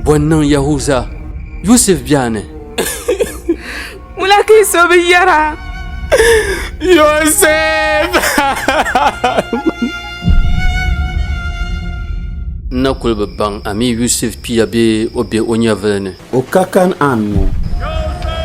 Bɔ n-niŋ Yahuza, Yusuf biɛha ni? Ŋuna ka yi so bi yɛra? Yusuf! N na kul bi baŋ a mi Yusuf pia bee o be o nyɛvili ni. O ka Kan'an ŋɔ,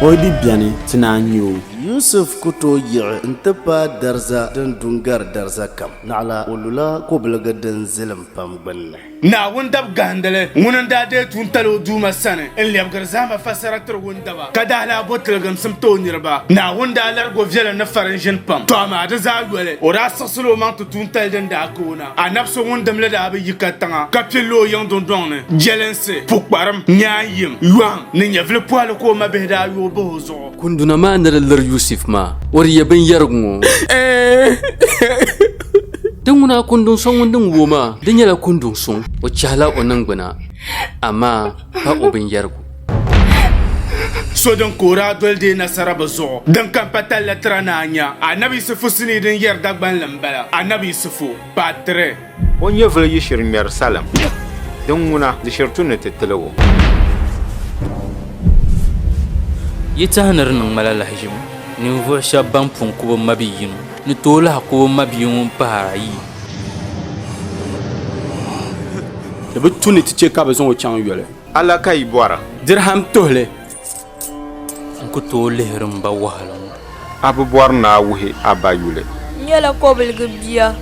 o yi di beni ti naan nya o. Yusuf ku tooi yiɣi nti paai dariza din du n-gari dariza kam. Naɣila o lula kobiligi din zilim pam gbinni. Naawuni dabigahindili ŋuni n-daa deei tuuntali o Duuma sani n-lɛbigiri zahima fassara tiri wundaba, ka daa lahi bo tiliginsim ti o niriba. Naawuni daa larigi o viɛlim ni farinʒini pam, tɔ amaa di zaa yoli o daa siɣisila o maŋ ti tuuntali din daa ka o na. Anabi so ŋun dimli daa bi yi ka tiŋa ka pilila o yiŋ dundɔŋ ni, jelinsi, pukparim, nyaanyim, yɔhim ni nyɛvili pɔhili ka o mabihi daa yooi bahi o zuɣu. Kunduna maa ni di liri Yusuf maa, o di yɛ binyɛrigu ŋɔ. Di ŋuna a kunduŋ so ŋun din wuo maa, di nyɛla kunduŋ suŋ. O chɛhila o niŋgbuna, amaa pa o binyɛrigu. So din ka o daa doli deei nasara bɛ zuɣu. Din ka m-pa talli tira ni a nya, Annabi Yisifu sinii din yɛri Dagbanli m-bala. Annabi Yisifu, Part 3. O nyɛvili yiɣisiri ŋmɛri salim, din ŋuna di shiri tu ni ti tiligu. Yi tahi ni di niŋ ma la lahiʒibu, ninvuɣ shɛb bɛn pun ku bɛ mabia yino ni tooi lahi ku bɛ mabia ŋun pahir ayi. Di bi tu ni ti chɛ ka bɛ zaŋ o chaŋ yoli. A la ka yi bɔri? Dirham tuhili N ku tooi lihiri m ba wahala ŋɔ. A bi bɔri ni a wuhi a ba yuli? N nyɛla kɔbiliga bia.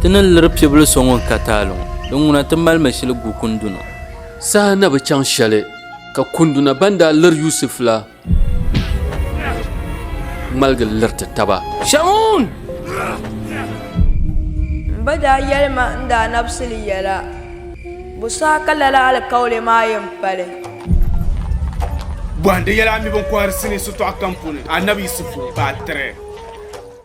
Ti ni liri pibil so ŋun ka taali ŋɔ, di ŋuna ti mali mi shili gu kunduna. Saha na bi chaŋ shɛli, ka kunduna ban daa liri Yusuf la. ŋmaligi liriti taba. Shamun! M ba daa yɛli ma n daa nabisili yɛla, Bo saha ka lala alikauli maa yɛn pali? Bɔhindi yɛla a mi biŋkɔhiri sinii sitɔɣu kam puuni, Annabi Yisifu, baa 3.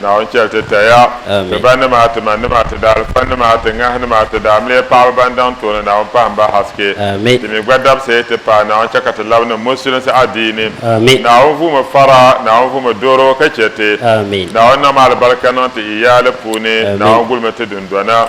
Naawuni chɛli ti taya, ti ba nima, ti ma nima, ti daalifa nima, ti ŋahi nima, ti daamiliya paɣaba ban daŋ tooni Naawuni pahim ba haske. Ti mi gba dabisi ti pahi Naawuni chɛ ka ti labi niŋ Musulinsi adiini. Naawuni vuumi fara, Naawuni vuumi dooro ka chɛ ti. Naawuni niŋm alibarika niŋ ti iyaali puuni, Naawuni gulimi ti dundɔna.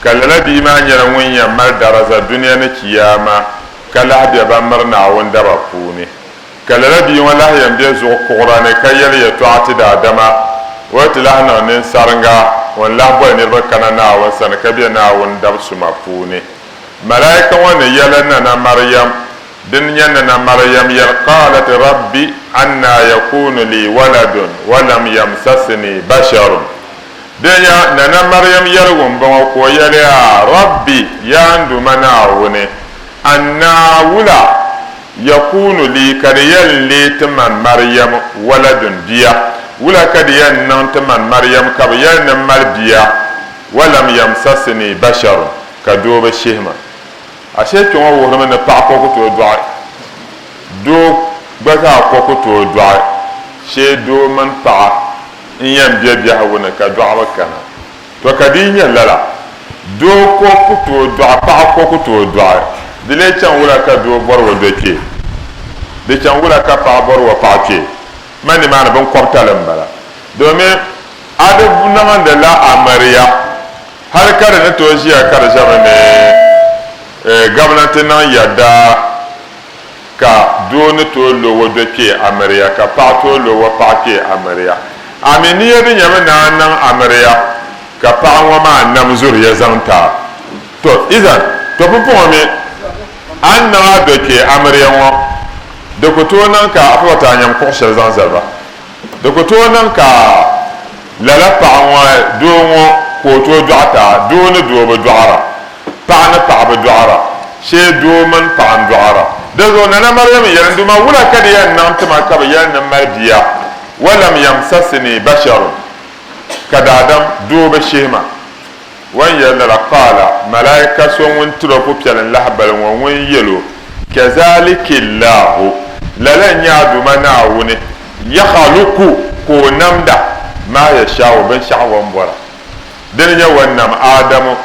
Ka lala bia maa nyɛla ŋun yɛn mali daraza dunia ni Chiyaama, ka lahi be ban miri Naawuni daba puuni. Ka lala bia ŋɔ lahi yɛn be zuɣu kuɣira ni ka yɛli yɛtɔɣa ti daadama, O ti lahi niŋ ninsariŋga ŋun lahi boli niriba kana Naawuni sani ka be Naawuni dabisuma puuni. Malaika ŋɔ ni yɛli Nana Mariam, Dini nyɛ Nana Mariam yɛli, Qaalat, Rabbi, annaa yakuunu lii waladun wa lam yamsasini basharun. Dɛnya Nana Mariam yɛligu m-bɔŋɔ ka o yɛli, A Rabbi, Yaa n Duuma Naawuni, a ni naa wula? Yakuunu lii ka di yɛn leei ti man Mariam waladun bia? Wula ka di yɛn niŋ ti man Mariam ka bi yɛli ni m mali bia? Walam yamsasini basharun, ka doo bi shihi ma. Ashee kpɛŋɔ wuhirimi ni paɣa ko ku tooi dɔɣi, doo gba zaa ko ku tooi dɔɣi shee doo mini paɣa. n yɛn be biɛhigu ni ka dɔɣu bi kana. To ka di yi nyɛ lala, doo ko ku tooi dɔɣi, paɣa ko ku tooi dɔɣi. Di lee chaŋ wula ka doo bɔri o do kpee? Di chaŋ wula ka paɣa bɔri o paɣa kpee? Ma nimaani binkɔbitali m-bala. Domin a di niŋindi la Ameria hali ka di ni tooi ʒiya ka di ʒɛmi ni Gabnanti niŋ yɛda. ka doo ni tooi lo o do kpee amiriya ka paɣa tooi lo o paɣa kpee amiriya. A mi ni ya di nyɛmi ni a niŋ amiriya ka paɣa ŋɔ maa nam zuriya zaŋ ti a? Tɔ, izan, tɔ pumpɔŋɔ mi a ni niŋ a do kpee amiriya ŋɔ, di ku tooi niŋ ka a pa ba ti a nyam kuɣ shɛli zaŋ zali ba. Di ku tooi niŋ ka lala paɣa ŋɔ doo ŋɔ ka o tooi dɔɣita. Doo ni doo bi dɔɣira. Paɣa ni paɣa bi dɔɣira. Shee doo mini paɣa n-dɔɣira. Dinzuɣu Nana Mariam yɛli, N Duuma, wula ka di yɛn niŋ ti ma ka bɛ yɛli ni m mali bia? Walam yamsasini basharun, ka daadam doo bi shihi ma. O ni yɛli nira, Qaala, Malaika so ŋun tiri o pupiɛlin lahibali ŋɔ ŋun yɛl o, Kazaaliki Laahu, Lala n-nyɛ a Duuma Naawuni, Yakhluku ka o namda, Maa Yashaa'u, binshɛɣu o ni bɔra. Di ni nyɛ o ni nam Aadamu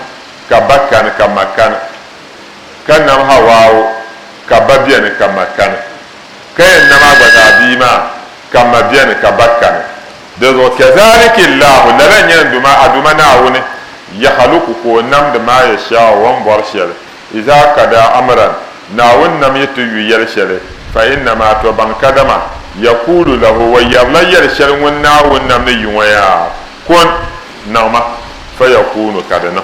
ka ba kani ka ma kani, ka nam Hawaa'u ka ba beni ka ma kani, ka yɛn nam a gba zaa bia maa ka ma beni ka ba kani. Dinzuɣu kazaliki Allahu, lala nyɛ n Duuma, a Duuma Naawuni, yakhluku ka o namdi maa yashaau o ni bɔri shɛli, izaa kadaa amran, Naawuni nam yi ti yu yɛli shɛli, fa innamaa tɔbaŋ kadama, yakuulu lahu o yɛrila yɛli shɛli ŋun Naawuni nam ni yu ŋɔ yaa, kun, niŋma, fayakuunu ka di niŋ.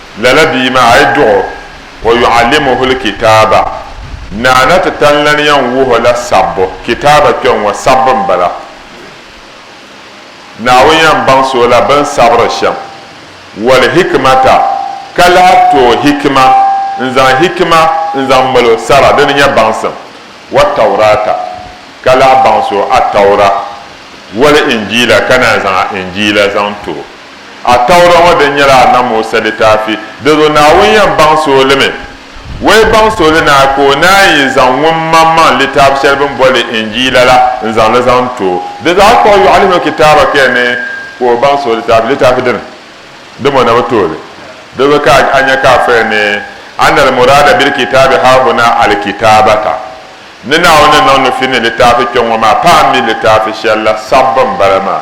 Lala bia maa, a yi duɣ o, wa yu'allimuhul kitaaba, Naa na ti tan lan yɛn wuh o la sabbu, kitaaba kpɛŋŋɔ sabbu m-bala. Naawuni yɛn baŋsi o la bɛn sabiri shɛm, wal hikimata, ka lahi ti o hikima, n-zaŋ hikima n-zaŋ mal o sara di ni nyɛ baŋsim, wa Taurata, ka lahi baŋsi o Attaura, wal Injiila, ka naan zaŋ a Injiila zaŋ ti o. A Tawura ŋɔ din nyɛla a na Musa litaafi, di zuɣu Naawuni yɛn baŋ sooi li mi. O yi baŋ sooi li naai ka o naan yi zaŋ ŋun maŋ maŋ litaafi shɛli bɛ ni boli li Injiila la n-zaŋ li zaŋ ti o. Di zaɣ kpuɣ yɔɣili mi kitaaba kaya ni ka o baŋ sooi litaafi, litaafi dini dim o na bi tooi li. Di zuɣu ka a nya ka a fɔya ni, Anna al-muraada bil-kitaabi haahuna al-kitaabata, Ni Naawuni ni niŋ nufi ni litaafi kpɛŋŋɔ maa, paɣim mi litaafi shɛli la sabbu m-bala maa.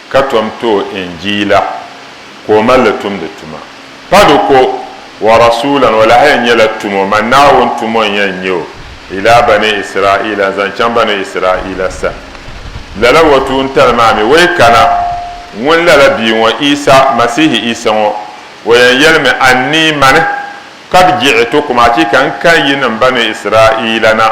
ka tom ti o Injiila ka o mali li tumdi tuma. Pa di ko, wa rasuulan, o lahi yɛn nyɛla tumo, man Naawuni tumo n-yɛn nyɛ o, ilaa bani Israaila, n-zaŋ chaŋ bani Israaila sani. Lala wa tuuntali maa mi, wa yi kana, ŋun lala bia ŋɔ, Isa, Masihi Isa ŋɔ, o yɛn yɛlimi, A ni yi mani, ka di jiɣi ti kum, achiika n kan yi niŋ bani Israaila na.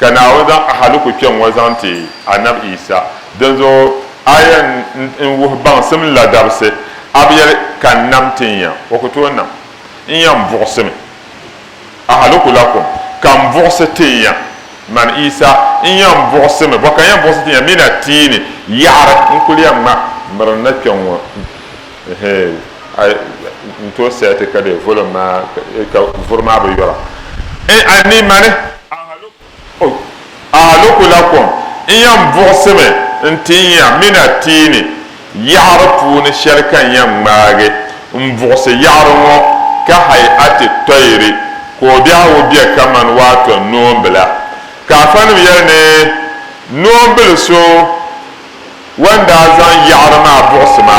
Ka Naawuni zaŋ ahaliku kpe ŋ-ŋɔ zaŋ ti Anab Isa. Dinzuɣu aya n wuhi baŋsim ladabisi, a bi yɛli, Ka n nam ti n ya? O ku tooi nam. N ya n buɣisimi ahaliku la kum, ka n buɣisi ti n ya, man Isa, n ya n buɣisimi bɔ ka n ya n buɣisi ti n ya mi na ti yi ni yaɣiri n kuli ya ŋma mirinda kpe ŋ-ŋɔ. Eheein ai n tooi saya ti ka di volume maa ka vuri maa bi yɔra. N a ni mani ahaloku la kom n yan buɣisimi n ti nya mina tia ni yaɣiri puuni shɛli ka n yan ŋmaagi n buɣisi yaɣiri ŋɔ ka hayati tɔyiri ko'biɛɣu bɛ ka mani waato noombila ka afanim yɛli ni noombil so Wan daa zaŋ yaɣiri maa buɣisi ma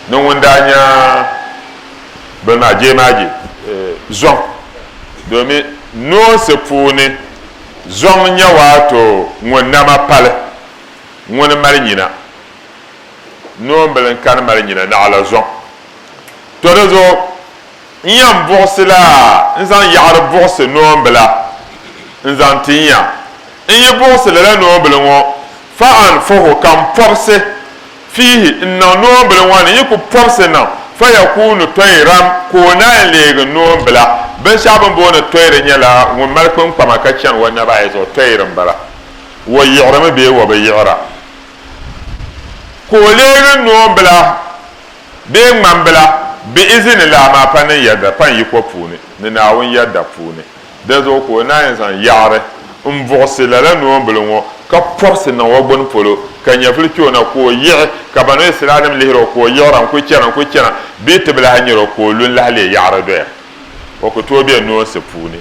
ni ŋun daa nya bini maa jeemaaje zɔŋ domin noonsi puuni zɔŋ nya waato ŋun nama pali ŋuni mali nyina. Noombili n-kani mali nyina naɣila zɔŋ. To di zuɣu N yɛn buɣisila n zaŋ yaɣiri buɣisi noombila n-zaŋ ti ya. N yi buɣisi lala noombila ŋɔ, fa an fuhu ka n pɔbisi fiihi n-niŋ noombila ŋɔ ni yi ku pɔbisi niŋ, fa yakuunu tɔyiram ka o naai leegi noombila. Binshɛɣu bɛ ni booni tɔyiri nyɛla ŋun mali kpiŋkpama ka chani o naba ayi zuɣu, tɔyiri m-bala. O yiɣirimi bee o bi yiɣira ka o leegi noombila. bee ŋmambila bɛ izini la amaa pa niŋ yɛda pa n yiko puuni ni Naawuni yɛda puuni. Dinzuɣu ka o naan yi zaŋ yaɣiri m-buɣisi lala noombili ŋɔ ka pɔbisi niŋ o gbini polo, ka nyɛvili kpe o na ka o yiɣi, ka Banu Israelnim lihir o ka o yiɣira n-kul chana n-kul chana bee ti bi lahi nyar o ka o lu n-lahi leei yaɣiri doya. O ku tooi be noonsi puuni.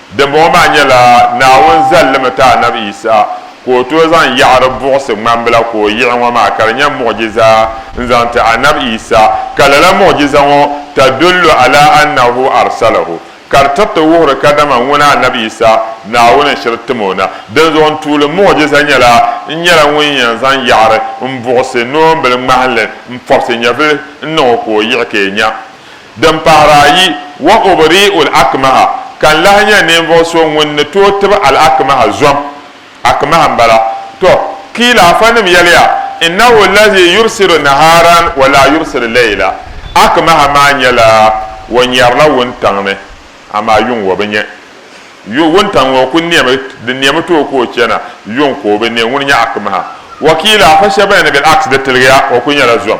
Dimbɔŋɔ maa nyɛla Naawuni zalimi ti Anab Yisa ka o tooi zaŋ yaɣiri buɣisi ŋmambila ka o yiɣi ŋɔ maa ka di nyɛ muɣ'jiza n-zaŋ ti Anab Yisa, ka lala muɣ'jiza ŋɔ, tadullu ala annahu arsalahu, ka di tiriti wuhiri kadama ŋuna Anab Yisa Naawuni n-shiri tim o na. Dinzuɣu n tuuli muɣ'jiza nyɛla n nyɛla ŋun yɛn zaŋ yaɣiri m-buɣisi noombili ŋmahinli m-pɔbisi nyɛvili n-niŋ o ka o yiɣi ka yi nya Din pahiri ayi, Wa ubri'ul akmaha, ka n lahi nya ninvuɣ so ŋun ni tooi tib al akmaha zom, akmaha m-bala. Tɔ! Kiila afanim yɛliya, Innahu lahi yubsiru nahaaran wa laa yubsiru layla, Akmaha maa nyɛla o nyarila wuntaŋ ni, amaa yuŋ o bi nya. Yu, wuntaŋ ŋɔ ku nemi, di nemi tooi ka o chana, yuŋ ka o bi ne. Ŋuni n-nyɛ akmaha? Wa kiila afa shɛba yɛn ni bil-aks, di tiligiya, o ku nyɛla zom.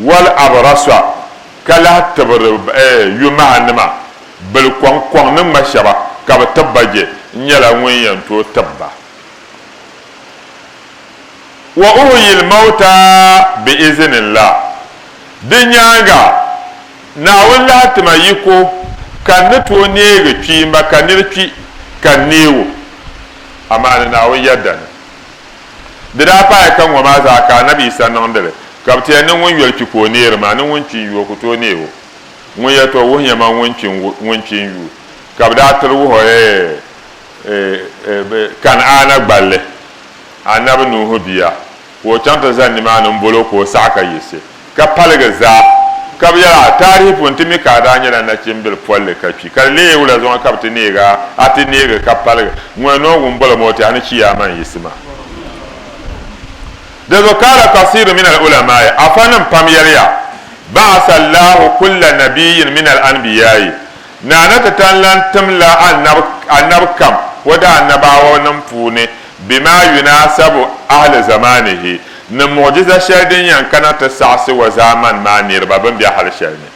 Wal Abraswa ka lahi tibiri yomaha nima bili kɔŋ kɔŋ ni ŋma shɛba ka bi tib ba je n nyɛla ŋun yɛn tooi tib ba. Wa uhuyil mawta bi izinillah Di nyaaŋa Naawuni lahi ti ma yiko ka n ni tooi neegi kpiimba ka nir kpi ka n neeg o, amaa ni Naawuni yɛda ni. Di daa paai ka ŋɔ maa zaa ka Anabi Yisa niŋdi li, ka bɛ ti yɛn ni ŋun yoli kpi ka o neeri maa ni ŋun kpi n-yu o ku tooi neeg o. Ŋun yɛli ti o wuhi nyɛma ŋun kpi ŋun kpi n-yu ka bɛ daa tiri wuhi o eeh eh Kan'aana gballi, Anabi Nuuhu bia, ka o chaŋ ti zani nimaani m-bol o ka o saɣi ka yiɣisi. ka paligi zaa. Ka bɛ yɛl a, Taarihi puuni ti mi ka a daa nyɛla nachimbil polli ka kpi, ka di lee wula zuɣu ka bɛ ti neeg a? A ti neegi ka paligi. Ŋuna noongu m-bɔli mooti, a ni chi ya a maŋ yiɣisi maa. Di zuɣu kaala kasiirun min al-ulamaai, afanim pam yɛliya, Ba'asa Allahu kulla nabiyyin min al-anbiyaai, Naa na ti tan lan tim la anab kam o daa nabaawɔnim puuni bɛ maa yuna asabu, ahli zamaanihi, ni muɣijiza shɛli din yɛn kana ti saɣisi o zaamani maa niriba bɛn be hal shɛli ni.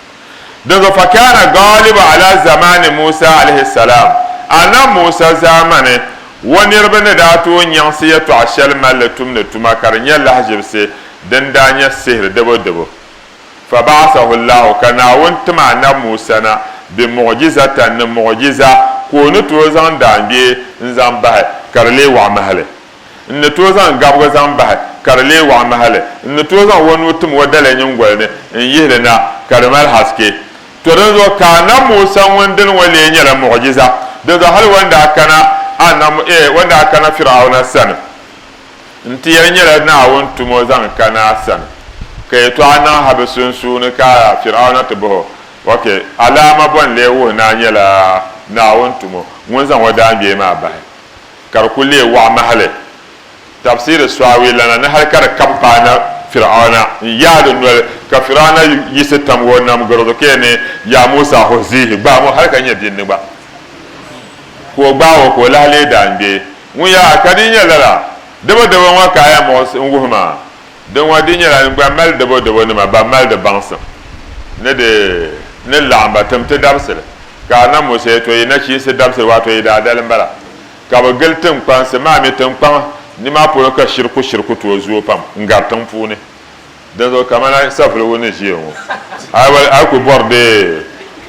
Dinzuɣu fakaana gaalibu ala zamaani Musa alaihi salaam, Anab Musa zaamani, o niriba ni daa tooi nyaŋsi yɛtɔɣa shɛli malli tumdi tuma ka di nyɛ lahiʒibisi din daa nyɛ sihiri debo debo. Faba'asahu Allahu, ka Naawuni tim Annabi Musa na bi muɣ'jizatan ni muɣ'jiza ka o ni tooi zaŋ daangbee n-zaŋ bahi ka di lee waɣi mahili. N ni tooi zaŋ gabiga zaŋ bahi ka di lee waɣi mahili. N ni tooi zaŋ o nuu tim o daliya nyingoli ni n-yihi li na ka di mali haske. To dinzuɣu ka Annabi Musa ŋun dini ŋɔ lee nyɛla muɣ'jiza. Dinzuɣu hali o ni daa kana Annabi, o ni daa kana Fir'auna sani N ti yɛli nyɛla Naawuni tum o zaŋ kana a sani, ka yɛtɔɣa niŋ ha bɛ sunsuuni ka Fir'auna ti bɔh o, Ok, alaama bɔ n-lee wuhi ni a nyɛla Naawuni tumo ŋun zaŋ o daangbee maa bahi ka di kul lee wɔɣ mahili? Tafsiri Sɔawi lana ni hal ka di kab paana Fir'auna n-yaai di noli, ka Fir'auna yiɣisi tamg o nam garo zuɣu ka yɛli ni, Yaa Musa, huzihi! Gbaam o hal ka nya binni gba ka o gbaag o ka o lahi lee daangbee. Ŋun yaa ka di nyɛ lala dabodabo ŋɔ ka a ya muɣis n wuhi ma? Di ŋɔ di nyɛla n gba mali dabodabo nima ban mali di baŋsim ni di ni laɣim ba tim ti dabisili. Ka a na Musa ya to yi nachiinsi dabisili waato yi daa dalim bala. Ka bɛ gili tiŋkpansi maa mi tiŋkpaŋ nima polo ka shiriku shiriku tooi zooi pam n gari tiŋ puuni. Dinzuɣu kamani savuligu ni ʒiya ŋɔ, a ku bɔri dee,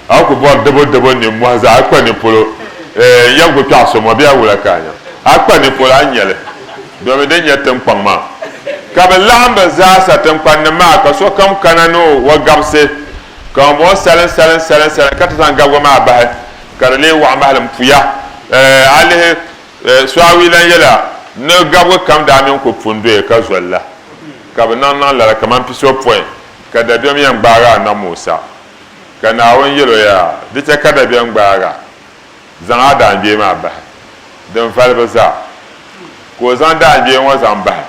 a ku bɔri diboddibo nimmɔhi zaa, a kpa nipolo, eh, n yɛn ku kpɛɣi so mɔ bee a wula ka a nya? A kpa nipolo a ni nya li, domi din nyɛ tiŋkpaŋ maa ka bɛ laɣim bɛ zaa sa, tiŋkpannim maa ka sokam kana ni o gabisi ka ŋunbɔŋɔ salim salim salim salim ka ti zaŋ gabiga maa bahi ka di lee waɣi mahilim puya, eh, a lihi. Suawi lan yɛla, Ni gabigu kam daa mini ku pun doya ka zoli la, ka bɛ niŋ niŋ lala kaman pisopɔin, ka dabiɛm yɛn gbaag a Annabi Musa. Ka Naawuni yɛl o, Yaa, di chɛ ka dabiɛm gbaag a, zaŋ a daangbee maa bahi, din vali bi zaa. Ka o zaŋ daangbee ŋɔ zaŋ bahi.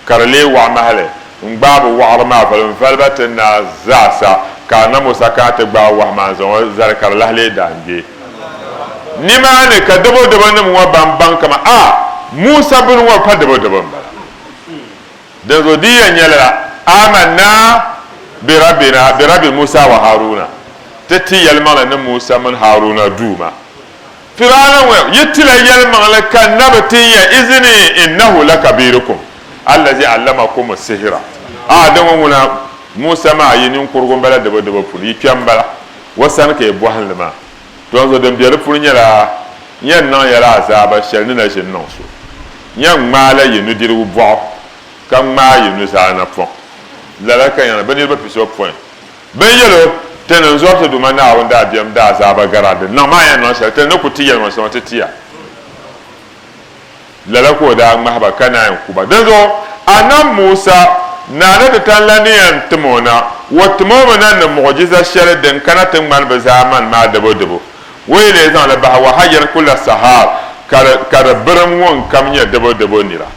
ka di lee waɣa mahili n gbaai bi waɣiri maa voli n valiba ti na zaa sa, ka a nam o sa kana ti gbaai wahu maa n zaŋ o zali ka di lahi lee daa ŋmɛ. Ni maa ni ka dabodaba nim ŋɔ ban baŋ kaman a Musa bini ŋɔ pa dabodaba n bala. Dinzuɣu di yɛn nyɛla la, Amanna bi Rabbina, bi Rabbi Musa wa Haruna, ti ti yɛlimaŋli ni Musa mini Haruna Duuma. Firawna ŋɔ yi ti la yɛlimaŋli ka n na bi tin ya izini, innahu lakabirukum allazi allamakumu sihira, Ahaa di ŋɔ ŋuna Musa maa yi ninkurugu m-bala dibodibo puuni, yi kpɛm m-bala o sani ka yi bɔhim li maa. Donso din be di puuni nyɛla, N yɛn niŋ ya la azaaba shɛli ni na ʒini niŋ so. N yɛn ŋmaai la yi nudirigu bɔɣu ka ŋmaai yi nuzaa napɔŋ. Lala ka n yɛn niŋ bɛ niriba pisopɔin. Bɛ ni yɛl o, Ti ni zɔri ti Duuma Naawuni dabiɛm daazaaba gara din niŋ maa yɛn niŋ shɛli, ti ni ku ti yɛlimaŋli sɔŋ ti tia. Lala ka o daa ŋmahi ba ka naan ku ba. Dinzuɣu Annabi Musa naa ni ti tani la ni yɛn tim o na, o tim o mi na ni muɣijiza shɛli din kana ti ŋmani bɛ zaa mani maa dibudibu. O yi leei zaŋ li bahi Wahayyir kula Sahaar ka di birim ŋun kam nyɛ dibudibu nira.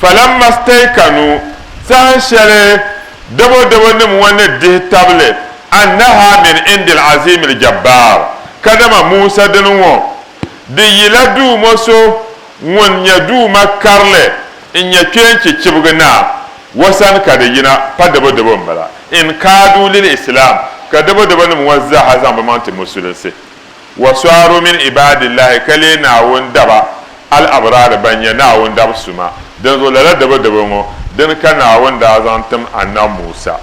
Falamma staykanu, sahan shɛli dabodabo nim ŋɔ ni dihi tabili annaha min indil aziimil jabbaar, kadama Musa dini ŋɔ di yila Duuma so ŋun nyɛ Duuma karili n-nyɛ kpeenchi chibigi Naa wa sani ka di yina, pa dabodabo m-bala, in kaadu lil islaam, ka dabodabo nim ŋɔ zaaha zaŋ bɛ maŋ ti musulinsi. wa sɔaru min ibaadillahi ka leei Naawuni daba al abraari ban nyɛ Naawuni dab suma. Dinzuɣu lala dabo dabo ŋɔ dini ka Naawuni daa zaŋ tim Annabi Musa.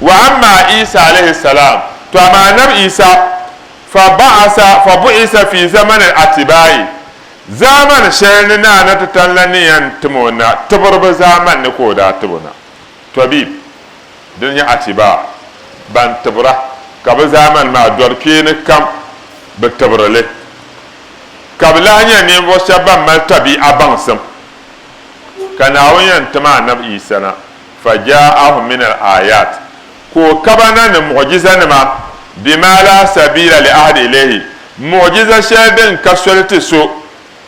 Wa amma Isa alayhi salaam, tɔ amaa Annabi Isa, fa ba'asa, fa bu'isa fi zamani al atibaa'i, zaamani shɛli ni Naa na ti tanla ni yɛn tim o na tibiriba zaamani ni ka o daa tib o na. Tɔbib, dini nyɛ atibaa, ban tibira, ka bɛ zaamani maa dɔri kpee ni kam bi tibiri li. Ka bɛ lahi nyɛ ninvuɣ shɛb ban mali tabii'a baŋsim. Ka Naawuni yɛn tim Annabi Yisa na, Fajaa'ahum minal aayaat, ka o ka ba na ni muɣijizanima, bimaa laa sabiila li ahadi ilayhi, muɣijiza shɛli din ka soli ti so.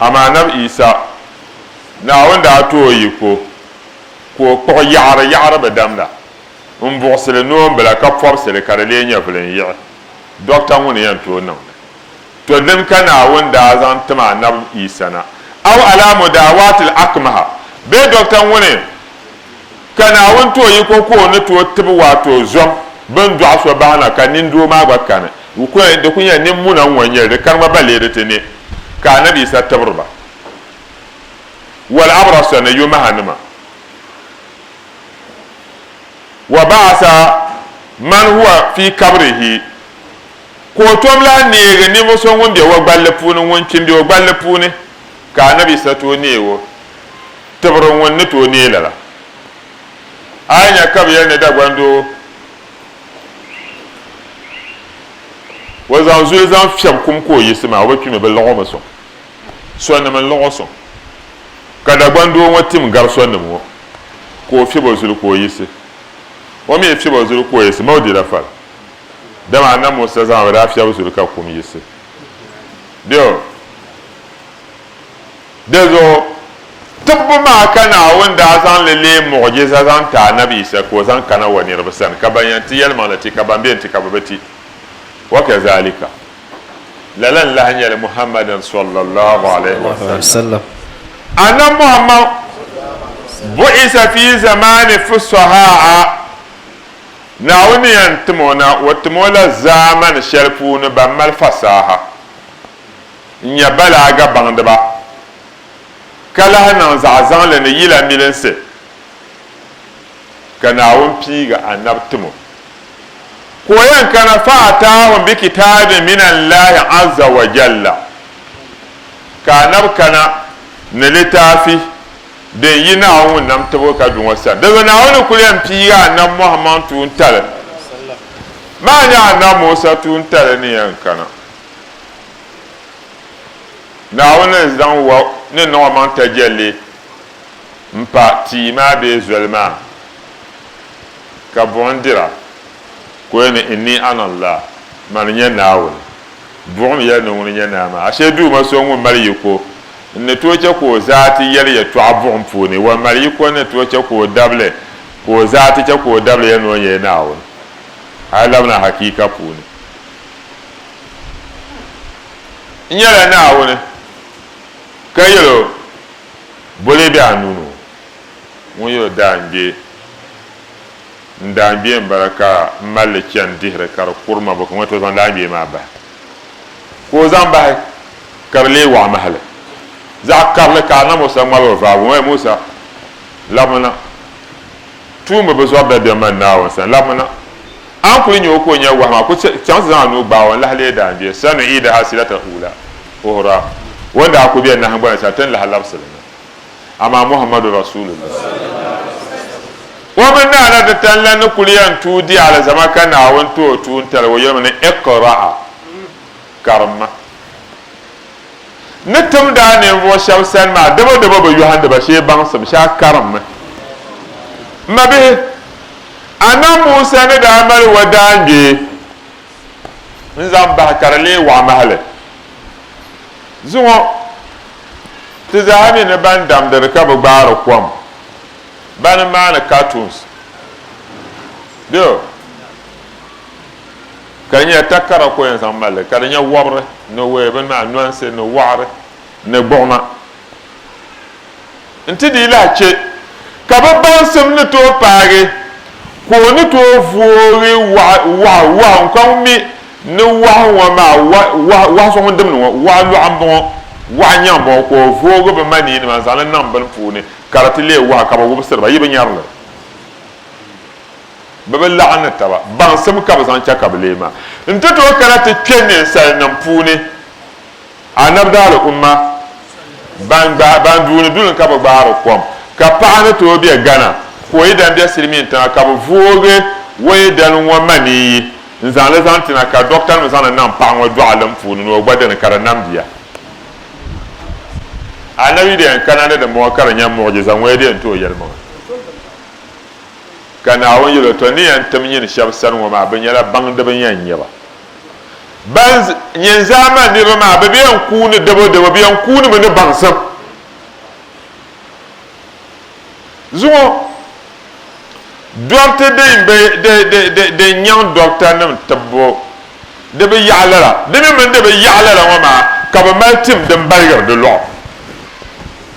Amaa Annabi Isa, Naawuni daa ti o yiko ka o kpuɣi yaɣiri yaɣiri bi damda m-buɣisili noombila ka pɔbisili ka di lee nyɛ vilinyiɣi Dɔkta ŋuni yɛn tooi niŋdi to dini ka Naawuni daa zaŋ tim Annabi Isa na, Aw ala mudaawaatil akmaha bee Dɔkta ŋuni Ka Naawuni ti o yiko ka o ni ti o tib waato zom bɛn dɔɣi so bahi na, ka nindoo maa gba kani. Di ku nyɛla nimmuna n-ŋɔ n-nyɛ li, di kani ma ba leei di ti ni ka Annabi Yisa tibiri ba wal-abrasa ni yomahanima. Wa ba'asa man huwa fii kabrihi, ka o tom lahi neegi ninvuɣ so ŋun be o gballi puuni, ŋun kpim be o gballi puuni, ka Annabi Yisa ti o neeg o. Tibiri ŋun ni tooi neei lala. A yi nya ka bɛ yɛli ni Dagban doo o zaŋ zuli zaŋ fiɛbi kum ka o yiɣisi maa, o bi kpi mi, bɛ laɣ o mi sɔŋ. Sɔnnim n-laɣ o sɔŋ, ka Dagban doo ŋɔ tim gari sɔnnim ŋɔ ka o fiɛb o zuli ka o yiɣisi. O mi yi fiɛb o zuli ka o yiɣisi maa, o dila fali. Dama Annabi Musa zama bi daa fiɛbi zuli ka kum yiɣisi. Bɛ o. Dizuɣu, tibbu maa ka Naawuni daa zaŋ li leei muɣijiza zaŋ ti Anabi Yisa ka o zaŋ kana O niriba sani ka ban yɛn ti yɛlimaŋli ti ka ban bɛn ti ka bɛ bi ti. Wakazalika, lala n-lahi nyɛli Muhammadan sɔllallaahu alaihi wasallam. Anabi Muhammad buɣisa fi zamaani fusahaa, Naawuni ni yɛn tim o na, o tim o la zaamani shɛli puuni ban mali fasaha. n-nya balaaga baŋdiba, ka lahi niŋ zaɣizaŋli ni yila milinsi, ka Naawuni piigi anab tim o, ka o yɛn kana fa ataahum bi kitaabin min Allahi azza wa jalla, ka anab kana ni litaafi din yi Naawuni ŋun nam tibigi ka du ŋɔ sani. Dinzuɣu Naawuni ni kul yɛn piigi anab Muhammad tuuntali maa nya anab Musa tuuntali ni yɛn kana Naawuni n-zaŋ wa ni niŋ omaŋ tajalli m-pa tia maa bee zoli maa, ka buɣim dira, ka o yɛli ni, Inni ana Allah, Mani n-nyɛ Naawuni. Buɣim yɛli ni ŋuni n-nyɛ naa maa? Ashe Duuma so ŋun mali yiko n-ni tooi chɛ ka o zaati yɛli yɛtɔɣa buɣim puuni, wan mali yiko n-ni tooi chɛ ka o dabili ka o zaati chɛ ka o dabili yɛli ni o nyɛla Naawuni, hali labina hakiika puuni. N nyɛla Naawuni, ka yɛl o, Bo lee be a nuu ni ŋɔ? Ŋun yɛl o, Daangbee, n daangbee m-bala ka m mali li chani dihiri ka di kuri ma, bɔ ka ŋuna ti zaŋ daangbee maa bahi? Ka o zaŋ bahi, ka di lee wɔɣi mahili zaɣ karili, ka Annabi Musa ŋmabi o vaabu, O, Musa! Labimi na! Tuumba bi zɔri dabiɛm mani Naawuni sani la ŋuna. A ni kuli nya o ka o nya wahi maa, kuli chaŋ ti zaŋ a nuu gbaag o n-lahi leei daangbia, Sanu'iidahaa siratal uulaa, uhura, o ni daa kuli be nahingbana shɛli ti ni lahi labisi li na. Amaa Muhammadu Rasuulullah, o mini naa la ti tani la ni kuli yɛn tuui di alizama ka Naawuni ti o tuuntaliga o yɛlimi ni, Iqra'a, karimma. ni tim daa ninvuɣ shɛb sani maa, dabodabo bi yɔhindi ba shee baŋsim shɛha karimmi. M mabihi, a nam Musa ni daa mali wa daangbee n-zaŋ bahi ka di lee waɣ mahili zuŋɔ, ti zaa mi ni bɛn damdiri ka bi gbaari kom, ba ni maani cartoons bɛ. ka nyɛ takara ko yɛn zaŋ mali li ka di nyɛ wɔbiri ni wee bini maa nɔnsi ni wɔɣiri ni gbuɣima nti dii lahi chɛ ka bɛ baŋsim ni tooi paagi ka o ni tooi voori wahu n-kɔŋ ŋun mi ni wahu ŋɔ maa wahu so ŋun dimdi ŋɔ wahu lɔɣu m-bɔŋɔ wahu nyaŋ m-bɔŋɔ ka o voogi bɛ manii nima n-zaŋ li niŋ bini puuni ka di ti leei wahu ka bɛ wubisiri ba yi bi nyari li Bɛ bi laɣim ni taba. Baŋsim ka bɛ zaŋ chɛ ka bɛ lee ma. N ti tooi kana ti kpe ninsalinim puuni anabdaali umma ban gbaai, ban duuni duli ka bi gbaari kom, ka paɣa ni tooi be Ghana ka o yidana be silimiin tiŋa ka bɛ voogi o yidana ŋɔ maniyi n-zaŋ li zaŋ ti na ka dɔɣitanim zaŋ li niŋ paɣa ŋɔ dɔɣilim puuni ni o gba dini ka di namdi ya. Anabi di yɛn kana ni di mɔɣi ka di nyɛ muɣijiza ŋɔ ya di yɛn tooi yɛlimaŋa. Ka Naawuni yɛl o, Tɔ! N ni yɛn tim nyin shɛb sani ŋɔ maa, bɛ nyɛla baŋdiba n yɛn nyɛ ba. Ban nyɛ n zaamani niriba maa, bɛ bi yɛn kuuni dabodabo, bɛ yɛn kuunimi ni baŋsim zuŋɔ. Dɔriti din be, di, di, di, din nyaŋ dɔritanim tibbu di bi yaɣi lala, di mi mini di bi yaɣi lala ŋɔ maa ka bɛ mali tim din baligiri di lɔɣu.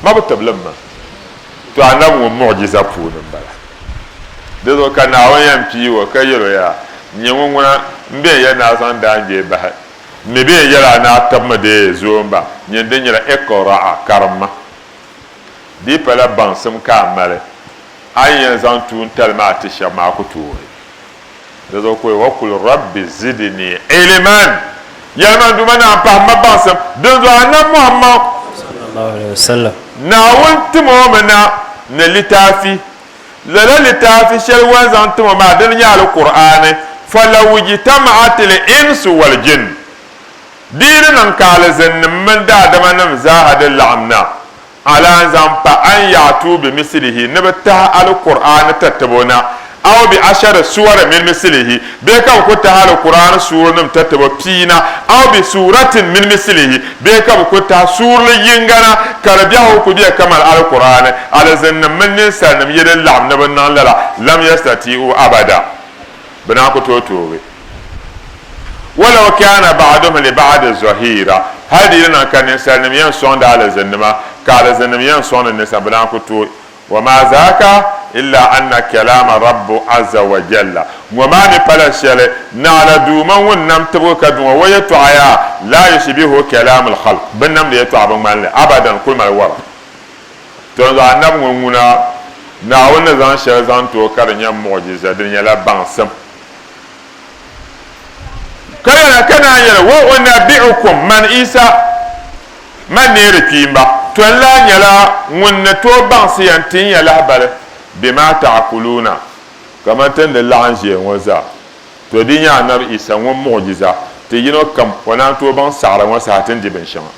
Ma bi tiblim ma. Tɔ Annabi ŋɔ muɣijiza puuni m-bala. Di zuɣu ka Naawuni yɛn pii o ka yɛl o yaa, Nyɛ ŋun ŋuna m-bɛn ya ni a zaŋ daangbee bahi. Mi bɛn yɛl a ni a tibimi dee zooi m-ba, nyin din nyɛla, Iqra'a, karimma. Di pala baŋsim ka a mali, a ni yɛn zaŋ tuun tali maa ti shɛb maa ku tooi. Di zuɣu ka o yɛli, Waqul Rabbi zidini iliman, Yɛlima n Duuma Naa, pahim ma baŋsim. Dinzuɣu Annabi Muhammad, Naawuni tim o mi na ni litaafi. Lala litaafi shɛli o ni zaŋ tim o maa dini nyɛ Alkur'aani. Falawujtama'at l-insu wal-jinn, Di yi di niŋ ka alizinnim mini daadamanim zaaha di laɣim na, A lan zaŋ pa an ya'tuu bimisilihi ni bɛ tahi Alkur'aani tatibo na, aw bi ashari suwari mini misilihi, bee ka bɛ ku tahi Alkur'aani suurinim tatibo pia na, aw bi suuratin mini misilihi, bee ka bɛ ku tahi suurili yiŋga na, ka di biɛhigu ku be kaman Alkur'aani, alizinnim mini ninsalinim yi di laɣim ni bɛ niŋ lala, lam yastati'u abada, bɛ naa ku tooi toogi. Walaw kana ba'duhum li ba'di zɔhiira, hali di yi lahi niŋ ka ninsalinim yɛn sɔŋdi alizinnima, ka alizinnim yɛn sɔŋdi ninsal, bɛ daa ku tooi. Wa maa zaaka illa anna kalaama Rabbu azza wa jalla, ŋɔ maa mi pala shɛli, Naɣila Duuma ŋun nam tibigu ka du ŋɔ, o yɛtɔɣa yaa, laa yushbihuhu kalaamul xalq, binnamdi yɛtɔɣa bi ŋmani li abadan, kuli mali wara. Tɔnzɔɣu Annabi ŋɔ ŋuna, Naawuni ni zaŋ shɛli zaŋ ti o ka di nyɛ muɣijiza, di nyɛla baŋsim. Ka lala ka naan yɛli, Wa unabbi'ukum, man Isa, ma neeri kpiimba, to n-lahi nyɛla ŋun ni tooi baŋsi ya n-tin ya lahibali bimaa ta'akuluuna, kamani ti ni di laɣim ʒiya ŋɔ zaa. To di nyɛ Anabi Isa ŋun muɣijiza ti yino kam o naan tooi baŋ saɣiri ŋɔ saha ti ni di binshɛŋa.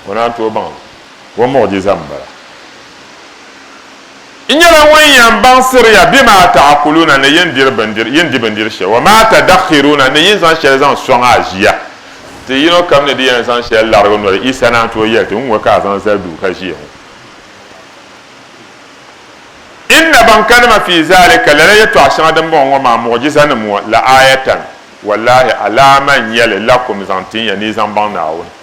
O naan tooi baŋ li. O muɣijiza m-bala. N nyɛla ŋun yɛn baŋsiri ya bima a ta'akuluna ni yin diri bindiri, yin di bindiri shɛli, wa ma tadakhiruna ni yin zaŋ shɛli zaŋ sɔŋ a ʒiya. Ti yino kam ni di yɛn zaŋ shɛli larigi o noli, Isa naan tooi yɛli ti, Ŋ-ŋɔ ka a zaŋ zali duu ka ʒiya ŋɔ. Inna ban kanima fi zaalika, lala yɛtɔɣ shɛŋa din bɔŋɔ ŋɔ maa, muɣijizanim ŋɔ, la aayatan, wallaahi alaama n-nyɛ li lakum zaŋ tin ya ni yi zaŋ baŋ Naawuni.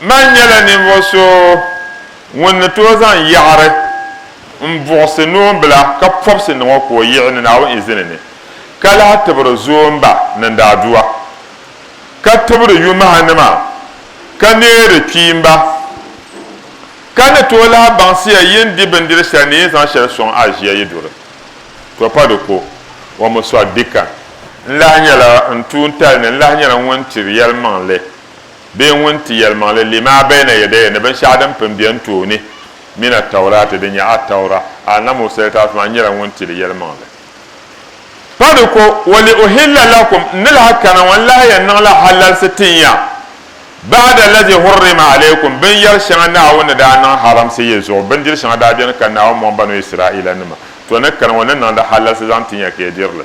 Man nyɛla ninvuɣ so ŋun ni tooi zaŋ yaɣiri m-buɣisi noombila ka pɔbisi niŋ o ka o yiɣi ni Naawuni izini ni, ka lahi tibiri zoomba ni daadua, ka tibiri yumahinima, ka neeri kpiimba. Ka ni tooi lahi baŋsiya yi ni di bindiri shɛli ni yi ni zaŋ shɛli sɔŋ a ʒiya yi duri, to pa di ko, wa mi sɔɣi dikan. N lahi nyɛla n tuuntali ni n lahi nyɛla ŋun tiri yɛlimaŋli. Bee ŋun ti yɛlimaŋli lima bɛyina yɛdayɛ ni binshɛɣu din pun beni tooni min Attauraati din nyɛ Attaura, Annabi Musa litaafi maa nyɛla ŋun ti li yɛlimaŋli. Pa di ko, Wa li uhilla lakum, n ni lahi kana ŋɔ n lahi yɛn niŋla halalsi ti n ya, ba'da lazi hurrima alaykum, binyɛri shɛŋa Naawuni ni daa niŋ haramsi ya zuɣu, bindiri shɛŋa daa beni ka Naawuni mɔŋ Banu Isra'iilanima, to ni kani ŋɔ n ni niŋ li halalsi zaŋ ti n ya ka ya diri li.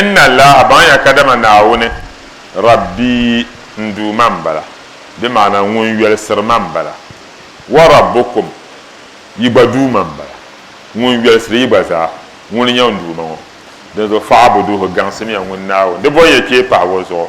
Inna Allaaha, baŋya kadama Naawuni, Rabbii, n Duuma m-bala, di maana Ŋun yolsiri ma m-bala, wa Rabbukum, yi gba Duuma m-bala, Ŋun yolsiri yi gba zaa, Ŋuni n-nyɛ n Duuma ŋɔ, dinzuɣu fa'abuduuhu, gaŋsimiya Ŋun Naawuni, di bɔŋya kpee pahi O zuɣu.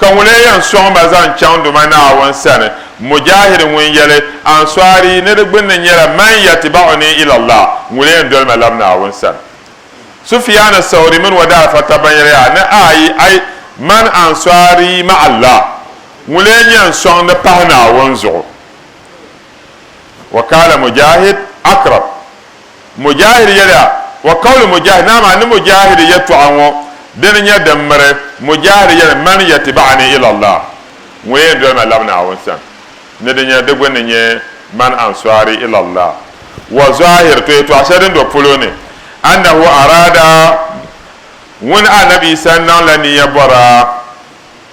Ka ŋun lee yɛn sɔŋ ma zaŋ chaŋ duuma Naawuni sani? Mujaahid ŋun yɛli, Ansɔari ni di gbunni nyɛla, Man yatiba'uni ila Allah, ŋuni yɛn doli ma lab Naawuni sani? Sufyaan Sawri mini o daa fa tab ban yɛli, Yaa ni ayi, ai, Man ansɔari ma'a Allah, ŋun lee nyɛ n sɔŋdi pahi Naawuni zuɣu? Wa kaala Mujaahid, Akrab. Mujaahid yɛliya, Wa qawlu Mujaahid, Naa maa ni Mujaahid yɛtɔɣa ŋɔ dini nyɛ din miri, Mujaahid yɛli, Man yatiba'ani ila Allah, Ŋun yɛn doli ma labi Naawuni sani, ni di nyɛ di gbunni nyɛ, Man ansari ila Allah. Wa zɔahir, to yɛtɔɣa shɛli din do polo ni, Annahu araada, Ŋuni, Annabi Yisa, niŋla niya bɔra,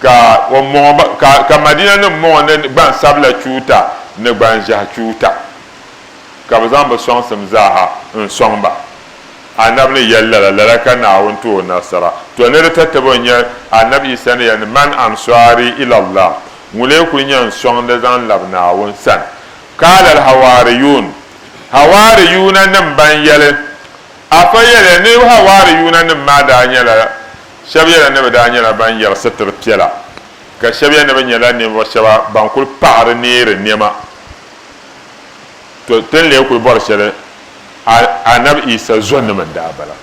Ka o mɔŋɔ ba, ka, ka Madina nim mɔŋɔ ni gban sabila chuuta ni gban ʒehi chuuta, ka bɛ zaŋ bɛ sɔŋsim zaaha n sɔŋ ba. Anabi ni yɛli lala, lala ka Naawuni ti o nasara. To ni di tatabo n-nyɛ, Anabi Isa ni yɛli, Man ansaari ila Allah? Ŋulee kul nya n sɔŋdi zaŋ labi Naawuni sani? Qaala al hawaariyuun, Hawaariyuuna nim ban yɛli, Afa yɛliya ni hawaariyuuna nim maa daa nyɛla Shɛb yɛla ni bɛ daa nyɛla ban yɛri sitir piɛla, ka shɛb yɛl ni bɛ nyɛla ninvuɣ shɛba ban kul paɣiri neeri nɛma. Tɔ! Ti ni lee kul bɔri shɛli a Anabi Yisa zɔnnim n-daa bala.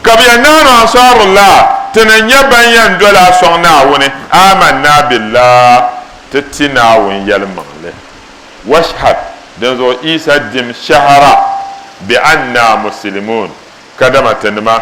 Ka bɛ yɛn naanu Ansaarullah, ti ni nyɛ bɛn yɛn doli a sɔŋ Naawuni, Amanna Billah, ti ti Naawuni yɛlimaŋli, Washhad, dinzuɣu Yisa dim shɛhira, Bi'anna Musilimun, kadama ti nima,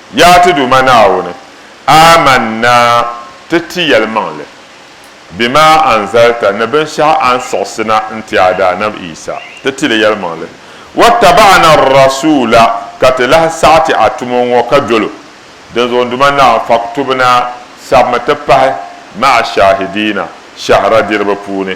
Yaa ti Duuma Naawuni, aamanna ti ti yɛlimaŋli bima anzalta ni binshɛɣu a ni siɣisi na n-ti a Daanab Yisa, ti ti li yɛlimaŋli, wattaba'ana ar-rasuula, ka ti lahi saɣi ti a tumo ŋɔ ka dol o, dinzuɣu n Duuma Naawuni, faktubna, sabimi ti pahi, ma'a shaahidiina, shɛhira diriba puuni.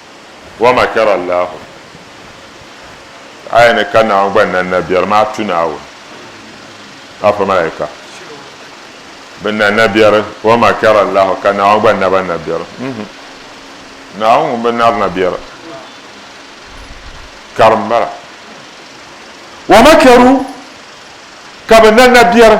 Wa makara Allahu, aya ni ka Naawuni gba na nabiɛri maa tu Naawuni, afa malaika bɛ na nabiɛri, wa makara Allahu, ka Naawuni gba na ba nabiɛri, mm-hmm, Naawuni ŋun bi nari nabiɛri karim m-bala. Wa makaru, ka bɛ na nabiɛri.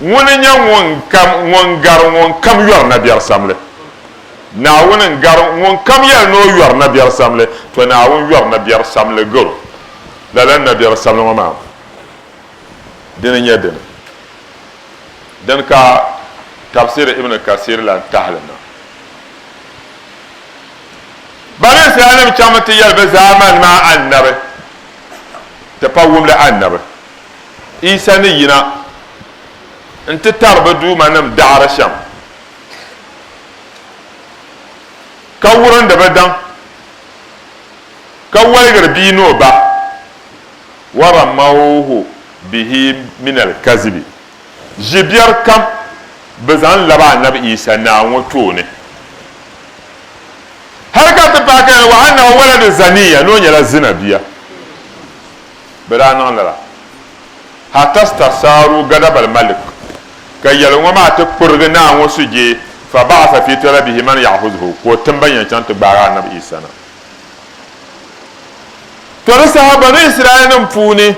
Ŋuni n-nyɛ ŋun gari ŋunkam yɔri nabiɛrisamli? Naawuni n-gari ŋunkam yɛli ni o yɔri nabiɛrisamli, tɔ Naawuni yɔri nabiɛrisamli gari o. Lala nabiɛrisamli ŋɔ maa, dini n-nyɛ dini? Dini ka Tafsir Ibn Kasir lan tahi li na. Bani Israelnim chaŋmi ti yɛli bɛ zaamani maa Annabi, ti pa wumli Annabi. Yisa ni yina nti tari bɛ duumanim daɣiri shɛm, ka wurindi bɛ daŋ, ka waligiri bia ni o ba, waramawhu bihi min alkazibi, ʒi biɛri kam bɛ zaŋ labi Annabi Yisa naa ŋɔ tooni, hal ka ti paaki ni wa annahu waladu zaniya, ni o nyɛla zina bia. bɛ daa niŋ lala. Hatastasaaru gadabal malik, ka yɛli ŋɔ maa ti kpurigi naa ŋɔ sujee, fa ba'asa fi talabihi man ya'hudhu, ka o tim ban yɛn chaŋ ti gbaagi Annabi Isa na. To di saha Banu Israilnim puuni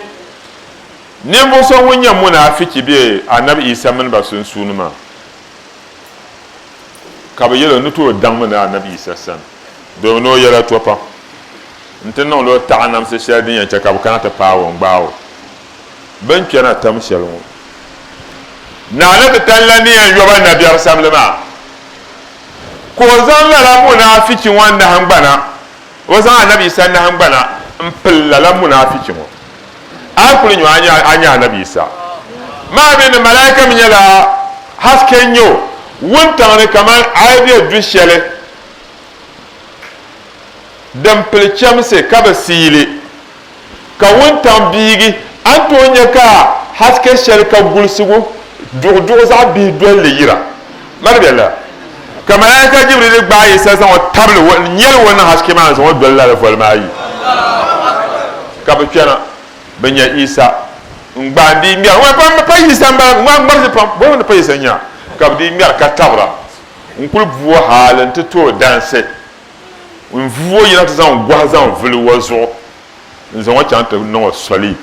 ninvuɣ so ŋun nyɛ munaafichi be Annabi Isa mini ba sunsuuni maa, ka bɛ yɛl o ni tooi daŋmi ni Annabi Isa sani. domi ni o yɛla to pam n-ti niŋdi o taɣinamsi shɛli din yɛn chɛ ka bɛ kana ti paag o n-gbaag o bɛ ni kpɛna tam shɛli ŋɔ. Naa ni ti tan la ni yɛn yɔba nabiɛrisamli maa, ka o zaŋ lala munaafichi ŋɔ nahiŋgbana, o zaŋ Annabi Yisa nahiŋgbana m-pili lala munaafichi ŋɔ. A yi kuli nyu a ni a nya Annabi Yisa maa mi ni malaika mi nyɛla haske n-nyɛ o wuntaŋ ni kaman a yi be du shɛli din pili chɛmsi ka bi siili, ka wuntaŋ biigi, a ni tooi nya ka haske shɛli ka gulisigu duɣi duɣi zaɣ bihi doli li yira. Mali bɛ la, ka Malaika Jibrili gbaai Yisa zaŋ o tabili o ni nyɛli o niŋ haske maa ni zaŋ o doli lala volimaa ayi. Ka bɛ kpɛna bɛ nya Yisa n-gbaai n-dii ŋmɛra. Ŋun pa Yisa m-bala, ŋun gbarisi pam, boli ŋun ni pa Yisa nya? Ka bɛ dii ŋmɛra ka tabira. N kul vu o hal nti ti o dansi. N vu o yina ti zaŋ gɔhi zaŋ vili o zuɣu n-zaŋ o chaŋ ti niŋ o soli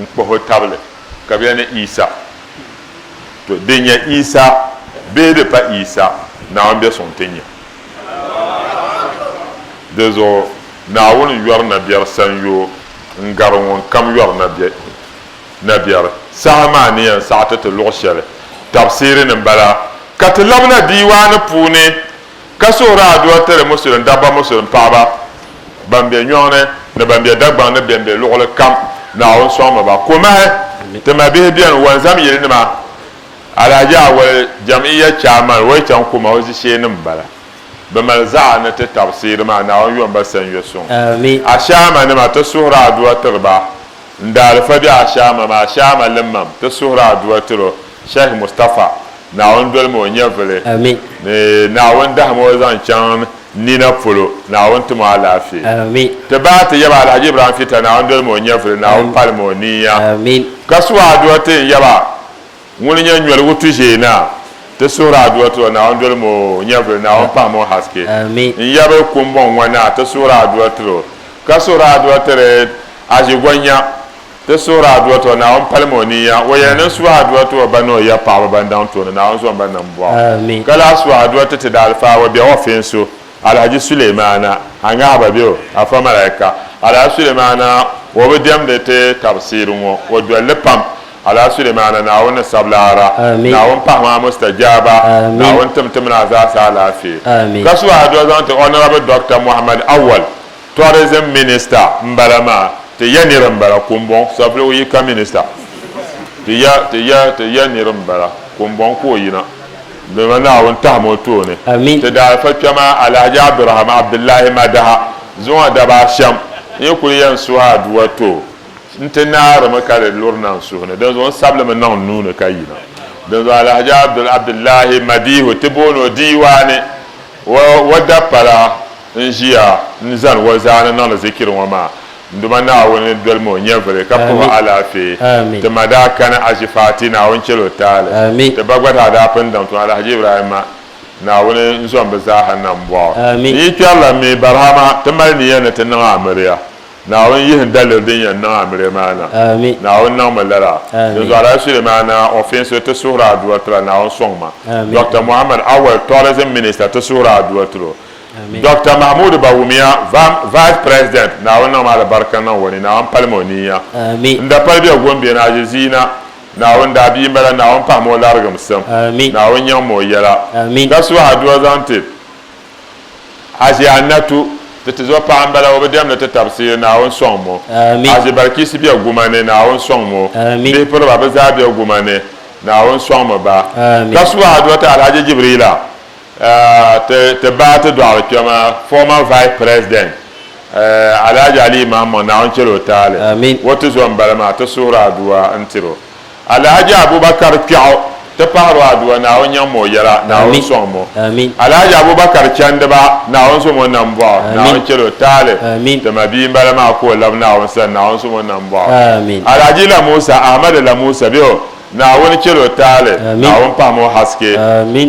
n-kpuhi o tabili ka bɛ yɛli ni Yisa. To, di nya Yisa bee di pa Yisa, Naawuni bɛ suŋ nti nya. Di zuɣu Naawuni yɔri nabiɛri sanyoo n-gari ŋunkam yɔri nabiɛhigu. na biɛri. Saha maa ni yɛn saɣiti ti luɣ shɛli tabisiri ni m-bala ka ti labina diiwaani puuni ka suhiri adua tiri Musulim dabba Musulim paɣiba ban be nyɔŋ ni ni ban be Dagbaŋ ni bɛn be luɣili kam Naawuni sɔŋmi ba komahi. Ti mabihi beni Wanzam yilinima Alhaji Awali Jam'iyya Chairman Woytan Kuma o zisheenima m-bala. Bɛ mali zaɣa ni ti tabisiri maa Naawuni yom ba Sanyo Suŋ Ashaamanima ti suhiri adua tiri ba. N daalifa be Ashaama maa Ashaama limmam ti suhiri Adua tiro Sheikh Mustafa Naawuni doli ma o nyɛvili ni Naawuni dahim o zaŋ chaŋ n nina polo Naawuni tum o alaafee ti ba ti yaba Alhaji Ibrahim Fita Naawuni doli ma o nyɛvili Naawuni palim o nia ka su o Adua ti n yaba Ŋuni n-nyɛ nyoligu tuʒee Naa, ti suhiri a dua tiri o Naawuni doli mo o nyɛvili Naawuni pahi mo haske N yabili kumbɔŋ ŋɔ Naa, ti suhiri a dua tiri o Ka suhiri a dua tiri aʒigonya Ti suhiri a dua tiri o Naawuni pali mo o niya O yɛli ni n suhi a dua ti o ba ni o ya paɣaba Ban daŋ tooni Naawuni zuɣu n ba nam bɔɣu Ka lahi suhi a dua ti ti daalifaawa Biɛɣu o feenso Alhaji Sulemana a ŋahiba be o, Afa Malaika. Alhaji Sulemana o bi diɛmdi ti tabsiri ŋɔ, o dolli pam. Alhaji Sulemana Naawuni ni sabi laara, Naawuni pahi ma Mustajaaba, Naawuni tim ti mini a zaasa alaafee. Ka suhi a doli zaŋti Honorable Doctor Mohammed Awal. Tourism minister n bala maa ti ya niri n bala kumbɔŋ sapligu yi ka minister ti ya ti ya ti ya niri n bala kumbɔŋ ka o yina dama naawuni tahim o tooni ti daalifa kpɛma alahaji abduraham abdullahi madaha zuŋɔ daba ashɛm n yi kuli yan suhi aduwa to n ti naarimi ka di luri na n suhuni dinzuɣu n sabilimi niŋ n nuuni ka yina dinzuɣu alahaji abdul abdullahi madihu ti booni o diiwaani wa wa dapala N ʒiya ni zani o zaa ni niŋdi zikiri ŋɔ maa, n Duuma Naawuni ni dolim o nyɛvili ka puhi o alaafee. Ti ma daa kani Haji Fati, Naawuni chɛli o taali. Ti ba gba zaa daa pun daŋ tuma Alhaji Ibrahima, Naawuni n zom bɛ zaaha nambɔɣu. N yi kpɛrila mi Barhama, ti mali niya ni ti niŋ amiliya. Naawuni yihi n daliri din yɛn niŋ amiliya maa na. Naawuni niŋ mi lala. Dinzuɣu Alhaji Sulemana Ofinso ti suhiri aduwa tila Naawuni sɔŋ ma. Dɔkta Muhammad Awɛl Tourism Minister ti suhiri aduwa tili o. Doctor Mahmoud Bawumia vam Vice President Naawuni niŋm alibarika niŋ o ni Naawuni palim o niiya n da pali bɛ Gombe ni Ajeziina Naawuni daa bia m-bala Naawuni pahim o larigimsim Naawuni nyaŋm o yɛla ka suhi adua zaŋ ti Haji Annatu ti tizo paɣa m-bala o bi diɛmdi ti tabisiyi Naawuni sɔŋm o Haji Balkisi bɛ Guma ni Naawuni sɔŋm o bihi piriba bɛ zaa bɛ Guma ni Naawuni sɔŋm ba ka suhi adua ti Alhaji Jibriila Ti bahi ti dɔɣiri kpɛm former vice president Alhaji Aliyu Mahammaŋ Naawuni chɛli o taali o ti zo m-bala maa ti suhiri Adua n-tir o Alhaji Abubakar Kpiɛɣu ti pahiri o Adua Naawuni nyaŋ ma o yɛla Naawuni sɔŋ ma o Alhaji Abubakar Chandiba Naawuni zo ma o nambɔɣu Naawuni chɛli o taali ti ma bia m-bala maa ka o lab Naawuni sani Naawuni zo ma o nambɔɣu Alhaji Lamusa Ahmadu Lamusa bɛ o Naawuni chɛli o taali Naawuni pahim o haske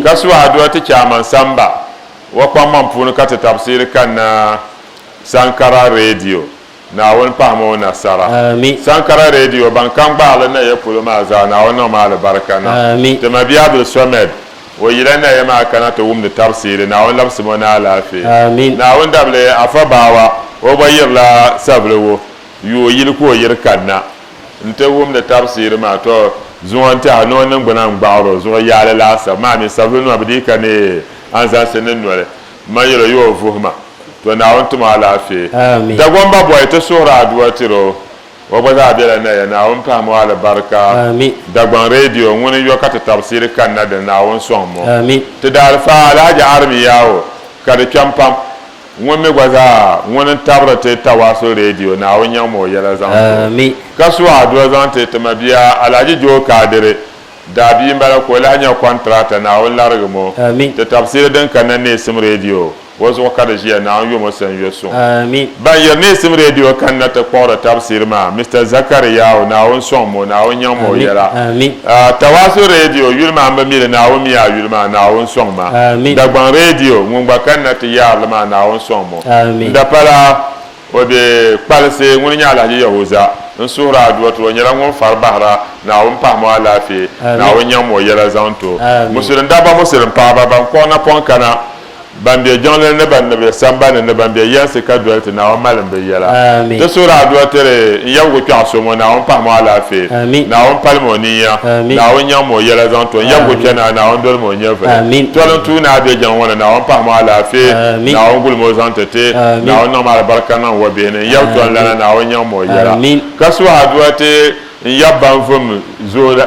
ka su adua ti Chairman Samba wa kpaŋmaŋ puuni ka ti tabsiri kanna Sankara Radio Naawuni pahim o nasara Sankara Radio ban ka n-gbaali Naya polo maa zaa Naawuni niŋ ma alibarika niŋ ti mabia Abdul Somed o yila Naya maa kana ti wumdi tabsiri Naawuni labsim o ni alaafee Naawuni dabili Afa Bawa o gba yirila Saviliwo yuo yili ka o yiri kanna N-ti wumdi tabisiri maa, tɔ! Zuŋɔ n-tɛha ni o niŋgbuna n-gbaɣir o zuɣu yaali laasabu maa mi, sabilinima bɛ dii ka neei anzaŋsi ni noli. M ma yɛl o yi o vuhi ma, tɔ! Naawuni tum o alaafee. Dagomba bɔhi ti suhiri adua tir o, o gba zaa bela na ya. Naawuni pahim o alibarika. Dagbaŋ Radio ŋuni yɔ ka ti tabisiri kanna dini, Naawuni sɔŋm o. Ti daalifaa Alhaji Arimi Yawo ka di kpɛm pam. Ŋun mi gba zaa ŋun n tabiri ti Tawaasul Radio Naawuni nyaŋ ma o yɛla zaŋ ti o ka su adua zaŋ ti ti ma bia Alhaji Joe Kadiri daa bia n bala ka o lahi nya kɔntirata Naawuni larigi mo ti tabisiri din kanna Neesim Radio o zuɣu ka di ʒiya Naawuni yo mo sani yo suŋ ban yiri Neesim Radio kanna ti kpuɣiri tabisiri maa Mister Zakariyawu Naawuni sɔŋ mo Naawuni nyaŋ ma o yɛla Tawaasu Radio yuli maa m bi mi li Naawuni mi a yuli maa Naawuni sɔŋ ma Dagbaŋ Radio ŋun gba kani na ti yaari li maa Naawuni sɔŋ mo n dapala o be kpalisi ŋuni nyɛ Alahaji Yahuza n suhiri a duwa ti o nyɛla ŋun fari bahira Naawuni pahi mo alaafee Naawuni nyaŋ mo yɛla zaŋ to Musilim dabba Musilim paɣaba ban kɔɣi napɔŋ kana ban be jiŋlini ni ban ni be sambani ni ban be yɛnsi ka doli ti Naawuni malimbu yɛla. Ti suhiri adua tiri n yɛbigu kpɛɣu so ŋɔ, Naawuni pahim o alaafee, Naawuni palim o ninya, Naawuni nyaŋm o yɛla zaŋ to n yɛbigu kpɛnaai, Naawuni dolim o nyɛvili toli n tuui ni a be jiŋ ŋɔ ni, Naawuni pahim o alaafee, Naawuni gulim o zaŋ ti ti, Naawuni niŋm alibarika niŋ o bihi ni, n yɛbi tɔn lana, Naawuni nyaŋm o yɛla. Ka suhi adua ti n yɛb ban vum zuɣu la.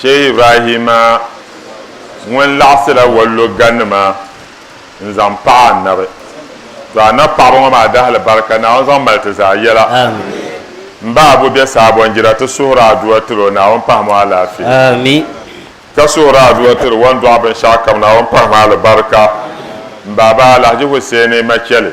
Shehi Ibrahima ŋun laɣisila Walloga nima n zaŋ paɣi Annabi. To Annabi paɣaba ŋɔ maa dahili barika Naawuni zaŋ mali ti zaa yɛla. M ba Abu be Saabonjira ti suhiri adua tiri o Naawuni pahim o alaafee ka suhiri adua tiri wan dɔɣi binshɛɣu kam Naawuni pahim alibarika. M baaba Alahji Husseini Macheli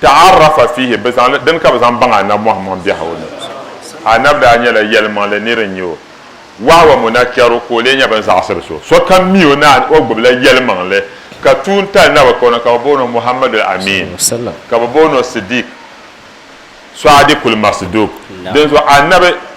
Ta'arrafa fiihi, bɛ zaŋ li, dini ka bɛ zaŋ baŋ Annabi Muhammad biɛhi o ni. Annabi daa nyɛla yɛlimaŋli nir n-nyɛ o. Wahwa munakkaru ka o lee nyɛ bɛ ni zaɣisiri so. Sokam mi o naani o gbibila yɛlimaŋli, ka tuun tali Naba ka o na ka bɛ booni o Muhammadul Amiin, ka bɛ booni o Siddiq, Swadiqul Masduq. Dinzuɣu Annabi.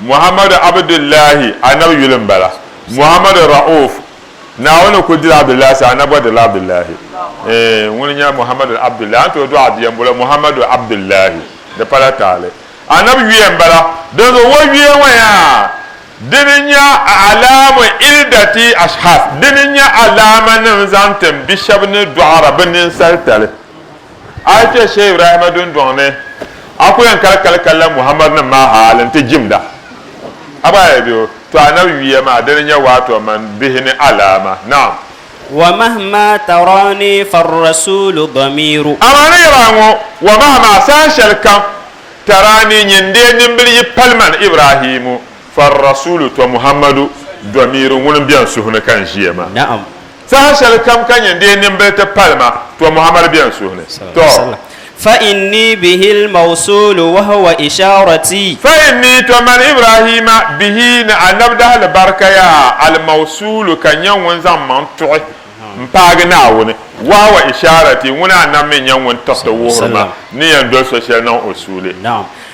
Muhammadu Abdullahi, Anabi yuli m-bala. Muhammadu Ra'uf, Naawuni kuli dila Abdullahi sani, Anabi gba dirila Abdullahi. Eeh, ŋuni n-nyɛ Muhammadu Abdullahi? A ni tooi dɔɣi a bia m-boli o Muhammadu Abdullahi. Di pala taali. Anabi yuya m-bala. Dinzuɣu o yuya ŋɔ yaa, dini n-nyɛ a'lamu iddati ashkhas, dini n-nyɛ alaamanim zaŋ tim bi shɛba ni dɔɣira bɛ ninsalitali. A yi kpe Shee Ibrahima dundɔŋ ni, a ku yɛn kali kali kalinla Muhammadinim maa hal nti jimda. A gba yi be o to Annabi yuya maa, dini nyɛ waatɔ man bihi ni alaama. Naam. Wa mahima tarani farrasuulu dɔmiiru. Amaa ni yɛl a ŋɔ, wa mahima saha shɛlikam tarani nyɛ n-deei nimbili yi pali man Ibrahimu, farrasuulu to Muhammadu dɔmiiru ŋun beni suhu ni ka n ʒiya maa. Naam. Saha shɛli kam ka nyɛ n-deei nimbili ti pali ma, tɔ Muhammad beni suhu ni. Tɔ! Fa inni bihil mawsuulu wa huwa ishaaratii. Fa inni, tɔ man Ibraahiima, bihi, ni a nabdahili barikaya, al mawsuulu, ka nyɛ ŋun zaŋ maŋ tuɣi m-paagi Naawuni, wa huwa ishaaratii, ŋuna a nam mi nyɛ ŋun tiriti wuhiri ma ni yɛn doli so shɛli niŋ o suuli.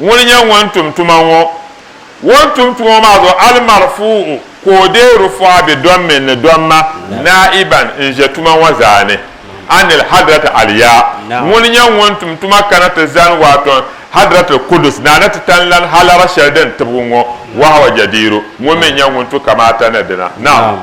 Ŋuni n-nyɛ ŋun tum tuma ŋɔ? Ŋɔ n-tum tuma ŋɔ maa zuɣu al-marfu'u ka o deei rufu'a bi dɔmmin ni dɔmma naa'iban n-ʒe tuma ŋɔ zaa ni anil hadrati aliya. Ŋuni n-nyɛ ŋun tum tuma kana ti zani waaton hadratil kudus na ni ti tan lan halara shɛli din tibigi ŋɔ, wahawa jadiiru, ŋuni mi n-nyɛ ŋun tu kamaata ni dina. Naam.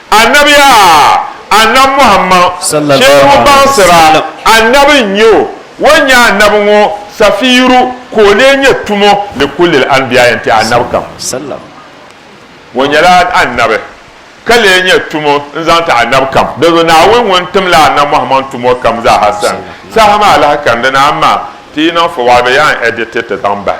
Annabi! A! Annabi Muhammad! Shɛli ŋɔ baŋsira, Annabi n-nyɛ o, o ni nyɛ Annabi ŋɔ safiiru, ka o lee nyɛ tumo li kullil anbiya yɛn-ti Annabi kam. O nyɛla Annabi, ka lee nyɛ tumo n-zaŋ ti Annabi kam. Dinzuɣu Naawuni ŋun timla Annabi Muhammad tumo kam zaa ha sani, saha maa lahi kani di ni amaa ti yi niŋ fɔwali bɛ yɛn edit it zaŋ bahi.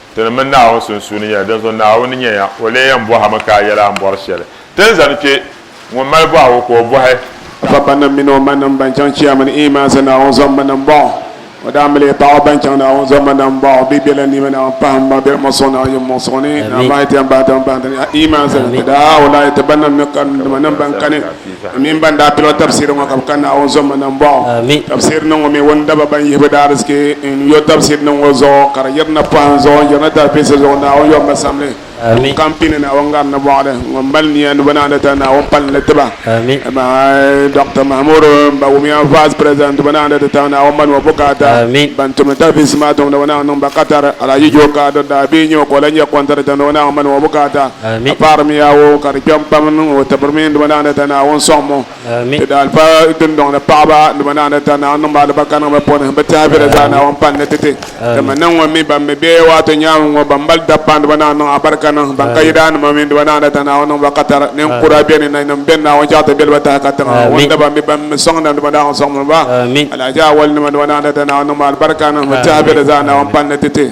Ti ni mini Naawuni sunsuuni nyɛla, dinzuɣu Naawuni nya ya, o lee yɛn bɔhi a mi ka a yɛla a ni bɔri shɛli. Ti ni zani kpe, ŋun mali bɔhigu ka o bɔhi. Babanim mini o manim ban chaŋ Chiya mini Iimaansi Naawuni zɔmminim m-bɔŋɔ. O daa mali ya paɣ o ban chaŋ Naawuni zɔmminim m-bɔŋɔ. Bɛ bela nima Naawuni pahim ma bɛ muɣisigu Naawuni muɣisigu ni. Naawuni maa yi ti yɛn bahi ti mi bahi ti ni Iimaansi ni ti daa wula yi ti banim ni ka dimanim ban kani. Di mini ban daa pil o tabsiri ŋɔ ka bɛ ka Naawuni zomma na m-bɔŋɔ. Tabsiri niŋ ŋɔ mi o ni daba ban yihibu daarzichi n-yo tabsiri niŋ ŋɔ zuɣu ka di yirina pɔhim zuɣu n-yirina talibisi zuɣu Naawuni yomma samli n kam pini Naawuni ŋari ni mɔɣili. Ŋun mali nia ni bɛ naana tali Naawuni pali li tiba. Amaa Dɔkta Mahamudu Mbawumia Vice President ti bɛ naana ti tali Naawuni mani o bukaata. Ban tumdi talibisi maa tiŋ ni bɛ naawuni niŋ ba katari. Alaji Joe Kado daa bee nyɛ o ka o lahi nyɛ kɔntarata ni o naawuni mani o bukaata. Ka paɣirimi yaa wɔɔ ka di kpɛm pam n niŋ o tibiri mini duma naani ta Naawuni sɔŋ mo. Ti daa pa dundɔŋ ni paɣiba duma naani ta Naawuni niŋ ba alibarika niŋ bɛ puuni. Bɛ tɛha be di zaa Naawuni pali ni ti ti. Ti mi niŋ ŋun mi ban mi bɛ waato nyaaŋa ŋɔ ban mali dabpaŋ duma naani niŋ alibarika niŋ ban ka yidaannima mini duma naani ta Naawuni niŋ ba katara. Ninkura beni nanim beni Naawuni chaɣi ti beli ba tahi ka tiŋa ŋun daba mi ban mi sɔŋda duma daaŋɔ sɔŋmi ba. Alahaji Awɔli nima duma naani ta Naawuni niŋ ba alibarika niŋ bɛ tɛha be di zaa Naawuni pali ni ti ti.